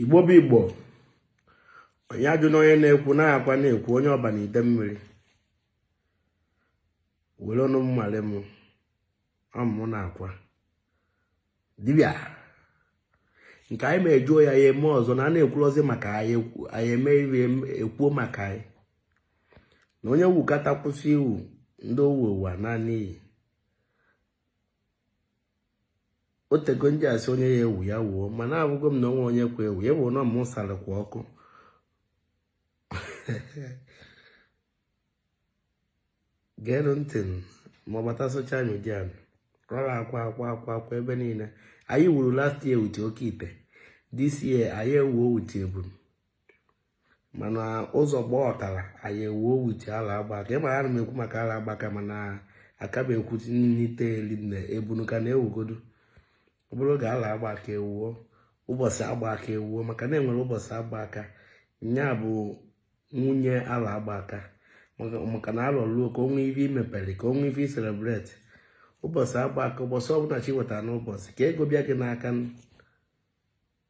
igbo bụ igbo onye ajụna onye na-ekwu na akwa na-ekwu onye ọba na idemmiri were ọnụ m male m ọ mụ na akwa dibịa nke anyị ma ejuo ya ya eme ọzọ na a na-ekwurozi maka anyị eme iri ekwuo maka anyị na onye wukata kwụsị iwu ndị owu ụwa naanị iyi otego m ji asị onye ya-ewu ya wuo mana ahụgo m na onwe onye kwa ewu ewu na mụ sara kwa ọkụ geenụ ntị ma ọ bata social media rọrọ akwa akwa akwa akwa ebe niile anyị wuru last year wute oke ite this year anyị ewuo wute ebunu mana ụzọ gbaa ọtara anyị ewuo wute ala agba aka ị mara ana m ekwu maka ala agba aka mana aka m ekwu na ite eri na ebunu ka na-ewugodu ọ bụrụ oge ala agba aka ewuo ụbọchị agba aka ewuo maka na enwere ụbọchị agba aka nya bụ nwunye ala agba aka maka na alọ luo ka o nwee ife i mepere ka o nwee ife i celebrate ụbọchị agba aka ụbọchị ọbụla chi bọtara n'ụbọchị ka ego bịa gị n'aka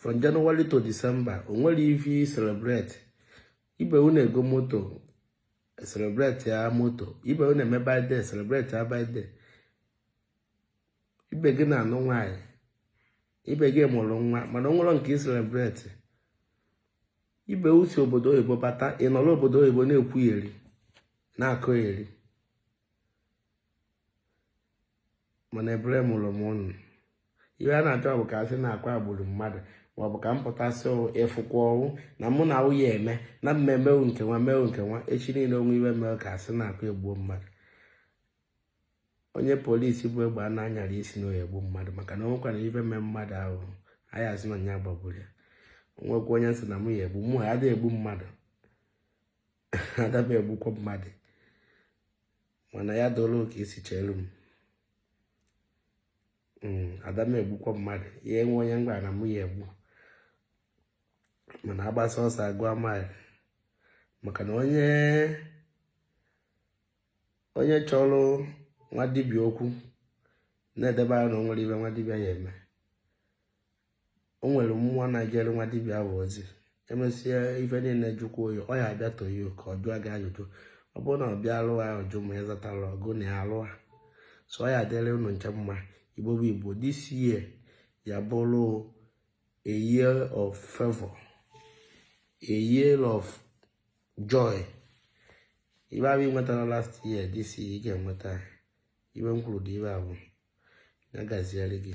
from January to December o nwere ife i celebrate ibe wụ na-ego moto celebrate ya moto ibe wụ na-eme birthday celebrate ya birthday ibe gị na-anụ nwaanyị ibe gị mụrụ nwa mana o nwerọ nke ị celebrate ibe wụ si obodo oyibo bata ị nọrọ obodo oyibo na-ekwuyeri na-akọyeri mana ebere mere m ụnụ ihe a na-achọ bụ ka a sị na akwa gburu mmadụ maọbụ ka m pụta sị ịfụkwa ọnwụ na mụ na nwunye eme na mmemme nke nwa mewu nke nwa echi niile o nwee ife mee ka asị na akwa egbuo mmadụ onye police bu egbe a na-anyara isi na ọ ya-egbu mmadụ maka na o nwekwara ife mee mmadụ ahụ anyị asị na ya gbagburu ya o nwekwa onye m sị na mụ ya-egbu mụwa adịghị egbu mmadụ ada m egbukwa mmadụ mana ya doro ka esi chere m hmm, ada m egbukwa mmadụ ya enwe onye m na mụ ya-egbu mana agbasa ọsọ agụọ mile maka na onye onye chọrọ nwa dibịa okwu na-edebe anya na o nwere ife nwa dibịa ya-eme o nwere mmụọ na-ejere nwa dibịa ahụ ozi o mesịa ife niile jụkwa oyi ọ ya-abịa toyi ka ọ jụọ gị ajụjụ ọ bụrụ na ọ bịa alụ ahụ jụ ma ịzatara ọgụ na ya alụ ha so ọ ya-adịrị unu ncha mma igbo bụ igbo this year ya bụrụ a year of favor a year of joy ife ọ bụ ị nwetara last year this year ị ga-enweta ife m kwuru dị ibe abụọ ya gaziere gị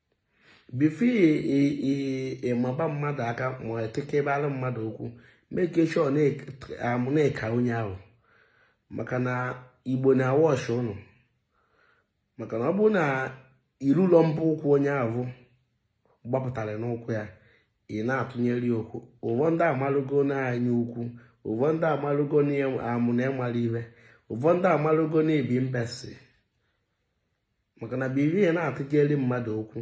before ị maba mmadụ aka ma i tekebalụ mmadụ okwu make sure na ị ka onye ahụ maka na igbo na-awatch ụnụ maka na ọ bụrụ na ị rụ ụlọ mpe ụkwụ onye ahụ gbapụtara nnukwu ya ị na-atụnyere ya okwu ụvọ ndị amalụgo na anya ukwu ụvọ ndị amalụgo na amụ na ị mara ihe ụvọ ndị amalụgo na ị bụ imbecile maka na before ị na-atụjeri mmadụ okwu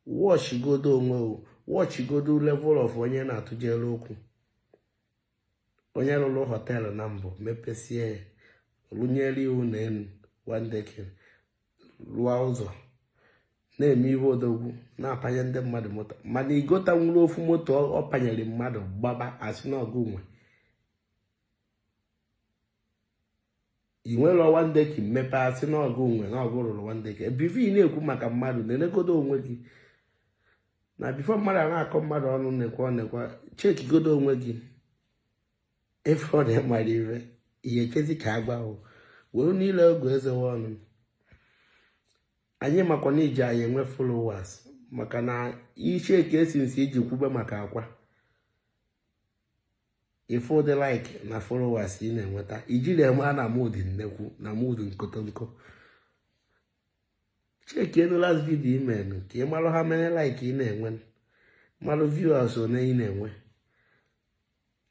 watchigodo onwe watchigodo level of onye na-atụjere okwu onye rụrụ hotel na mbụ mepesie ya rụnyere iwu na elu one decking rụọ ụzọ na-eme ihe odogwu na-apanye ndị mmadụ moto mana i gotanwuru ofu moto ọ panyere mmadụ gbaba a sị n'ọ gụ nwe i nwere one decking mepe a sị n'ọ gụ nwe n'ọ gụ rụrụ one decking before ị na-ekwu maka mmadụ nenegodo onwe gị na before mmadụ a na-akọ mmadụ ọnụ nekwa nekwa checkigodo onwe gị ife ọ na-emara ire ihe ekezi ka agwa ahụ were niile oge ezewe ọnụ anyị makwa na i ji anyị enwe followers maka na iche ka esi nsi iji kwube maka akwa ị fụ ụdị like na followers ị na-enweta ijiri eme a na mood nnekwu na mood nkotonko checkienu last video i menu ka ị marụ how many like ị na-enwe marụ viewers one ị na-enwe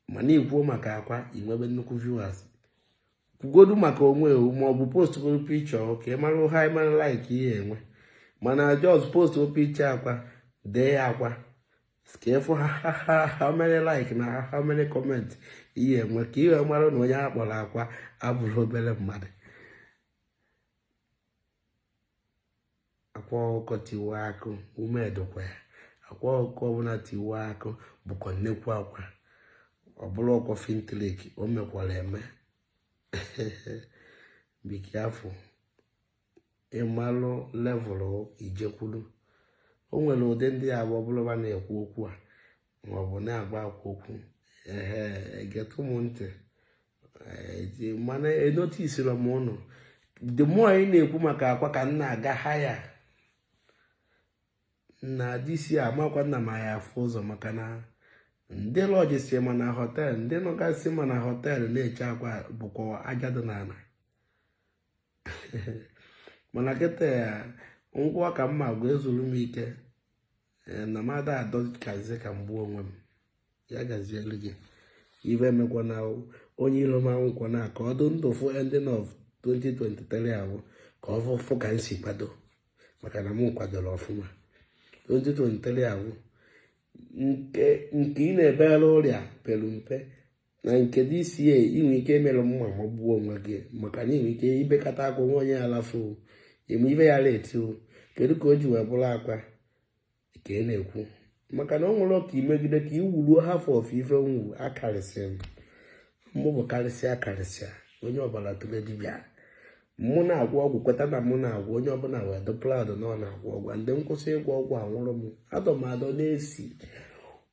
mana i kwuo maka akwa i nwebe nnukwu viewers kwugodu maka onwe wụ maọbụ postgodo picture ka ị marụ how many like i ye-enwe mana just post picture akwa dee akwa ka ị fụ how many like na how many comment i ye-enwe ka ị bịa mara na onye a kpọrọ akwa abụrọ obere mmadụ akwa ọkụkọ tiwa akụ ume edokwa ya akwa ọkụkọ ọbụla tiwa akụ bụkwa nnekwu akwa ọ bụrọkwa film trick o mekwara eme be careful ị malụ level i je-ekwuru o nwere ụdị ndị ya-abụ ọ bụlụ ba na-ekwu okwu a maọbụ na-agwa akwa okwu ehe egetụ m ntị eh, mana enoticeiri m ụnụ the more anyị na-ekwu maka akwa ka m na-aga higher na this year makwa nna m ya afụ ụzọ maka na ndị lodgesị ma na hotel ndị nọgasị ma na hotel na-eche akwa bụkwa aja dị n'ala mana kịta ya ngwa ka mma agwa ezuru m ike eh, na mmadụ adọkazi ka m gbuo onwe m ya gazielu gị ife emekwana onye ilo m anwụkwana ka ọ dị ndụ fụ ending of 2023 ahụ ka ọ fụfụ ka m si kwado maka na m kwadoro ọfụma 2023 ahụ nke ị na-ebere ọrịa pere mpe na nke DCA i nwee ike emerụ mma ma gbuo onwe gị maka na i nwee ike ibekata akwa nwa onye alafu eme ibe ya leti kedu ka o ji wee bụrụ Akwa Ọkụkọ maka na o nwerọ ka i megide ka i wuruo half of ife m wụ akarịsịa m mụ bụ karịsịa karịsịa onye ọbara tụle dibịa mụ na-agwọ ọgwụ kweta na mụ na-agwọ onye ọbụla wee dụ proud na ọ na-agwọ ọgwụ ndị kwụsị ịgwọ ọgwụ awụrụ m adọmadọ na-esi